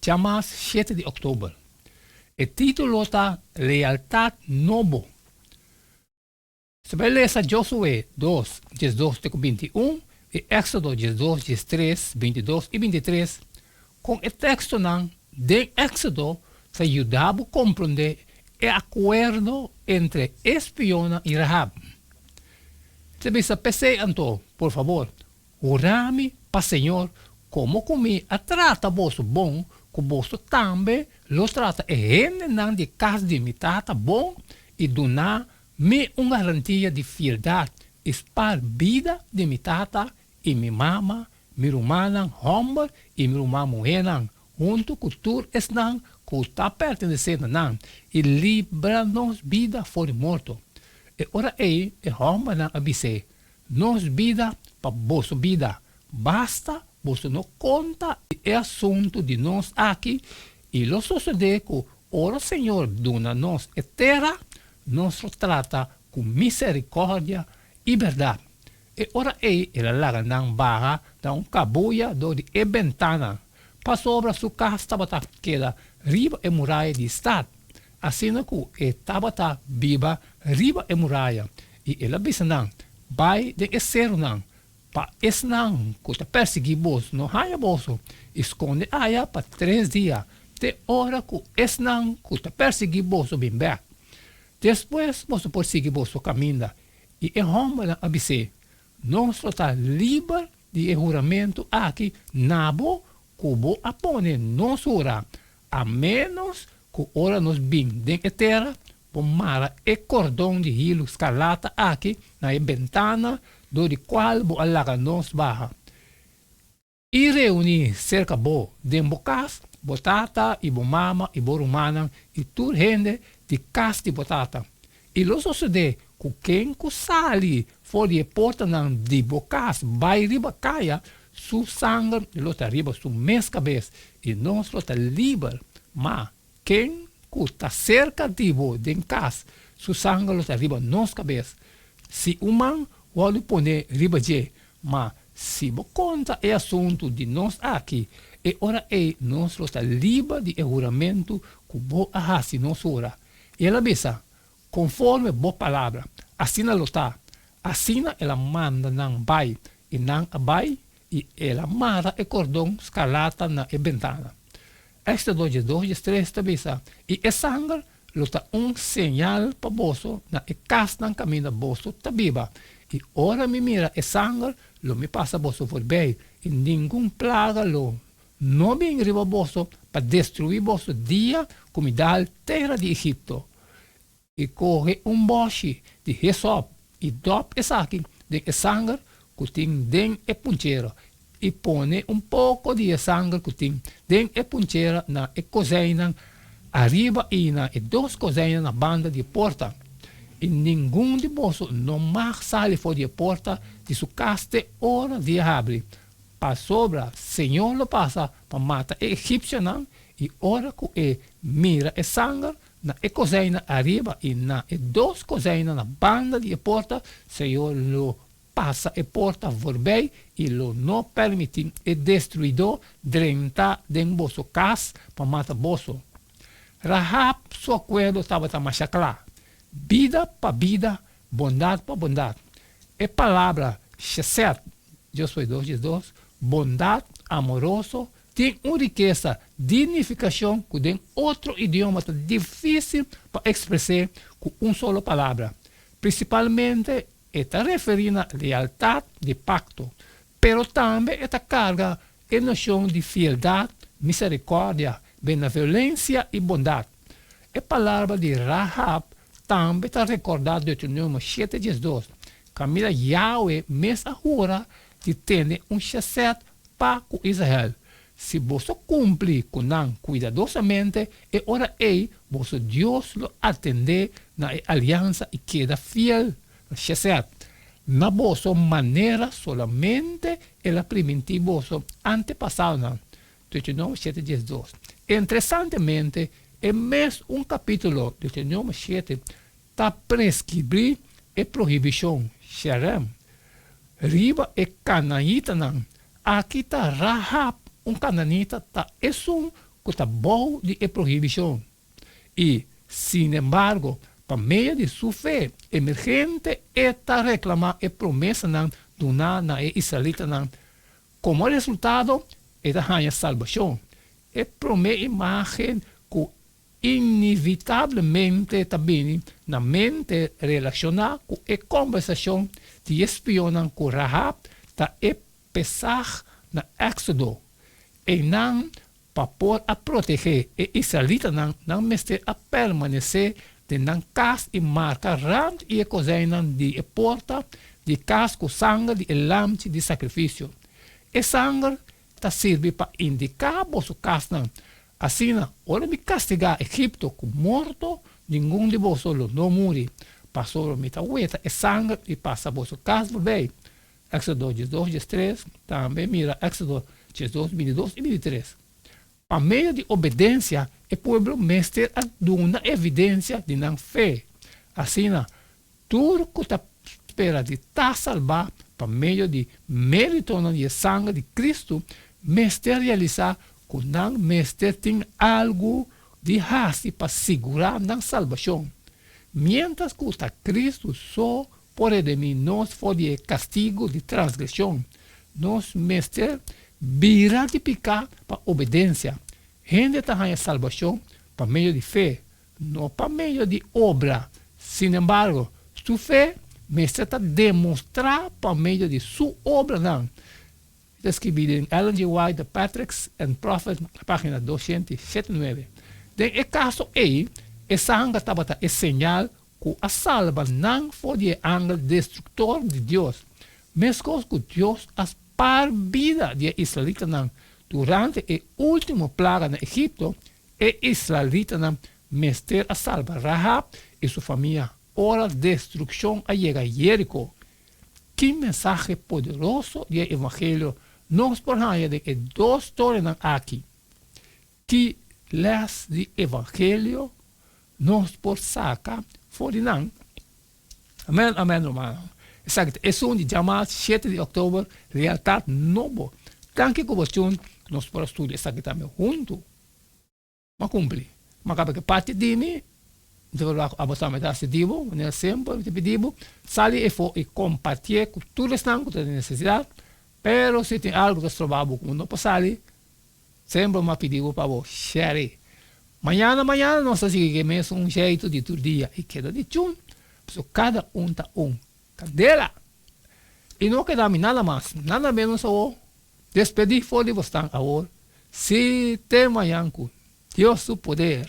Djamas shete di oktober. E titulo ta Lealtat Nobo. Su bai lesa Josué dos, djes dos te ku binti un i Èksodo djes dos, djes tres, binti dos i binti tres. Kon e tekstonan den Èksodo ta yuda bo komprondé e akuerdo entre e spionnan i Rahab? T bisa p'esei anto, por fabor. Hura mi pa Señor como cu mi a trata boso bon, cu boso tambe lo trata e hendenan di cas di mi tata bon y duna mi un garantia di fieldad y spar bida di mi tata y mi mama, mi rumannan homber y mi ruman muhernan, hunto cu tur esnan cu ta pertenece na nan, y libra nos bida for di morto. E ora ey e hombernan a bis'é, Nos bida pa boso bida. Basta boso no konta e asuntu di nos aki i lo sosodé ku ora Señor duna nos e tera, nos lo trata ku miserikòrdia i bèrdat. E ora ei el a laga nan baha na un kabuya dor di e bentana. pasobra su kas tabata keda riba e muraya di stat, asina ku e tabata biba riba e muraya, i el a bisa nan, Bai den e serunan, pa esnan ku ta pèrsiguí boso no haña boso, i skonde aya pa tres dia, te ora ku esnan ku ta pèrsiguí boso bin bèk. Despues boso por sigui boso kaminda. I e hòmbernan a bis'é, Nos lo ta liber di e huramentu aki na bo ku bo a pone nos hura, a ménos ku ora nos bin den e tera, bo mara e kordon di hilu skarlata aki na e bentana dor di kual bo a laga nos baha. I reuni serka bo den bo kas, bo tata i bo mama i bo rumannan i tur hende di kas di bo tata. I lo sosodé ku ken ku sali for di e portanan di bo kas bai riba kaya, su sanger lo ta riba su mes kabes, i nos lo ta liber. Má Ken ku ta serka di bo den kas, su sanger lo ta riba nos kabes. Si un man wòrdu pone riba dje, ma si bo konta e asuntu di nos aki, e ora ei nos lo ta liba di e huramentu ku bo a hasi nos ora. I el a bisa, Konforme bo palabra, asina lo ta. Asina el a manda nan bai, i nan a bai I el a mara e kordon skarlata na e bentana. Èster dos dje dos dje tres ta bisa, I e sanger lo ta un señal pa boso na e kasnan kaminda boso ta biba, i ora mi mira e sanger, lo mi pasa boso forbei, i ningun plaga lo no bin riba boso pa destruí boso dia ku mi dal tera di Egipto. i kohe un bòshi di hesòp i dòp esaki den e sanger ku tin den e punchera, i pone un poko di e sanger ku tin den e punchera na e kozeinan ariba i na e dos kozeinan na banda di e porta, i ningun di boso no mag sali for di e porta di su kas te ora di e habri, pasobra Señor lo pasa pa mata e egipsionan, i ora ku e mira e sanger, Na e koseina ariba i na e dos koseina na banda di e porta, Señor lo pasa e porta forbei i lo no permití e destruidó drenta den boso kas pa mata boso. Rahab su akuerdo tabata masha kla, Bida pa bida, bondat pa bondat. E palabra Shesed, Yo Soy Dos Dies Dos, bondat, amoroso, Tin un rikesa di nifikashon ku den otro idioma ta difísil pa ekspres'é ku un solo palabra. Prinsipalmente e ta referí na lealtat di pakto, pero tambe e ta karga e noshon di fieldat, miserikòrdia, benevolensia i bondat. E palabra di Rahab tambe ta rekordá Deuteronomio shete dies dos, Kaminda Yawe mes a hura di tene un shesèt Pa ku Israel, si boso kumpli ku nan kuidadosamente, e ora ei boso Dios lo atendé na e aliansa i keda fiel. Shesed, Na boso manera solamente el a primintí boso antepasaonan, Deuteronomio shete dies dos. Interesantemente, e mes un kapítulo, Deuteronomio shete, ta preskribí e prohibishon Sherem riba e kananitanan. Aki ta Rahab, un kananita, ta esun ku ta bou di e prohibishon. I, sinembargo, pa medio di su fe emergente e ta reklamá e promesanan duná na e israelitanan. Komo resultado, e ta haña salbashon. E promé imágen ku Inevitablemente ta bini na mente relashoná ku e kòmbersashon di e spionnan ku Rahab ta e Pesach na Éksodo. Einan pa por a protegé e israelitanan nan mester a permanesé den nan kas i marka rant i e kozeinan di e porta di kas ku sanger di e lamchi di sakrifisio. E sanger ta sirbi pa indiká boso kasnan, asina ora mi kastigá Egipto ku morto, ningun di boso lo no muri, pasobra mi ta weta e sanger i pasa boso kas bobei. Éksodo diesdos diestres, tambe mira Éksodo diesdos bintidos i bintitres. Pa medio di obedensia e pueblo mester a duna evidensia di nan fe, asina Tur ku ta spera di ta salbá pa medio di méritonan i e sanger di Kristu mester realisá ku nan mester tin algu di hasi pa sigurá nan salbashon. Miéntras ku ta Kristu so por redimí nos for di e kastigu di transgreshon, nos mester bira di piká pa obedensia. Hende ta haña salbashon pa medio di fe, No pa medio di obra. Sinembargo, su fe mester ta demostrá pa medio di su obranan. E ta skirbí den Ellen G. White, The Patriarchs and Prophets, página doscientos y setenta y nueve. Den e kaso ei, e sanga tabata e señal ku a salba nan for di e angel destruktor di Dios, meskos ku Dios a spaar bida di e israelitanan durante e último plaga na Egipto, E israelitanan mester a salba Rahab i su famia ora destrukshon a yega Yérico. Ki mensahe poderoso di e evangelio nos por haña den e dos storianan akí? Ki lès di evangelio nos por saka for di nan? Amen amen romano. Esaki ta esun di djamas shete di oktober Lealtad nobo. Tanki ku bo chun nos por a studia esaki tambe huntu. M'a kumpli. M'a kaba ke parti di mi mi ta wak abo tambe ta hasi di bo manera semper mi ta pidi bo sali efo i kompartié ku tur esnan ku ta den nesesidat pero si tin algu ku ta stroba bo ku bo no por sali Sempra m'a pidi bo pa bo share. Mañana mañana nos ta sigui cu e mesun jeitu di tur dia y keda di chun, pasobra cada un ta un. Candela! Y no keda mi nada mas, nada menos awor. Despedi for di bosnan awor, si te mañan cu Dios su poder.